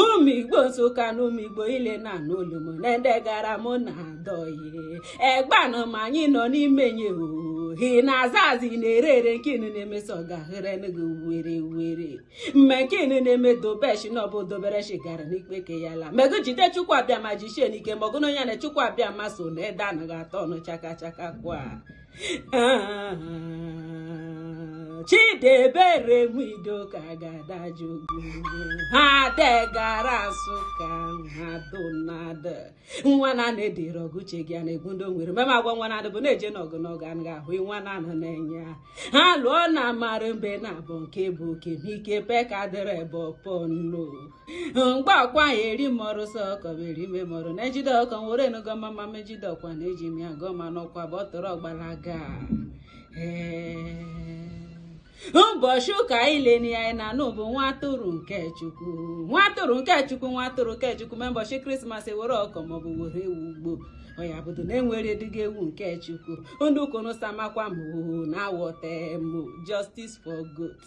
ụmụ igbo nsụka na ụmụ igbo ile na-anụ olu m o na ndị gara mụ na adọghị egbanụ ma anyị nọ n'ime nye ohi na-aza azị na-ere ere nke unu na-emeso ọgahere gị were were mee nke unu na-eme dobeshi na ọbụ dobereshi gara n'ikpe ke ya la mego jide chukwu abịama jichie n'ike ma ọgụnụ ya na chukwu abịama so na ede anaghị atọ ọnụ chaka chaka kwa Chidebere Nwidoka ga-adajụ ha degara Nsụka ha donada nwa na na-edere ọgụ uche gị a na-egbu ndị nwere mema agwa nwa na bụ na-eje n'ọgụ n'ọgụ anaghị ahụ nwa na anụ na-enye ha ha lụọ na mara mbe nabọ nke bụ oke n'ike peka dịrị ebe ọpọ nno mgbe akwa ahụ eri mọrụ sọ kọbere ime mọrụ na ejide ọkụkọ nwere enugo mama mejide ọkwa na eji m ya gụọ ma n'ọkwa bụ ọtọrọ gbalaga ụbọchị ụka ile ihe anyị na-anụ bụ nwa atụrụ nke chukwu nwa atụrụ nke chukwu nwa atụrụ nke chukwu mee ụbọchị krismas e were ọkụkọ maọbụ were ewu gbuo ọya bụdo na e nwere dịga ewu nke chukwu ndụ konosamakwa m na awọtem justice for goats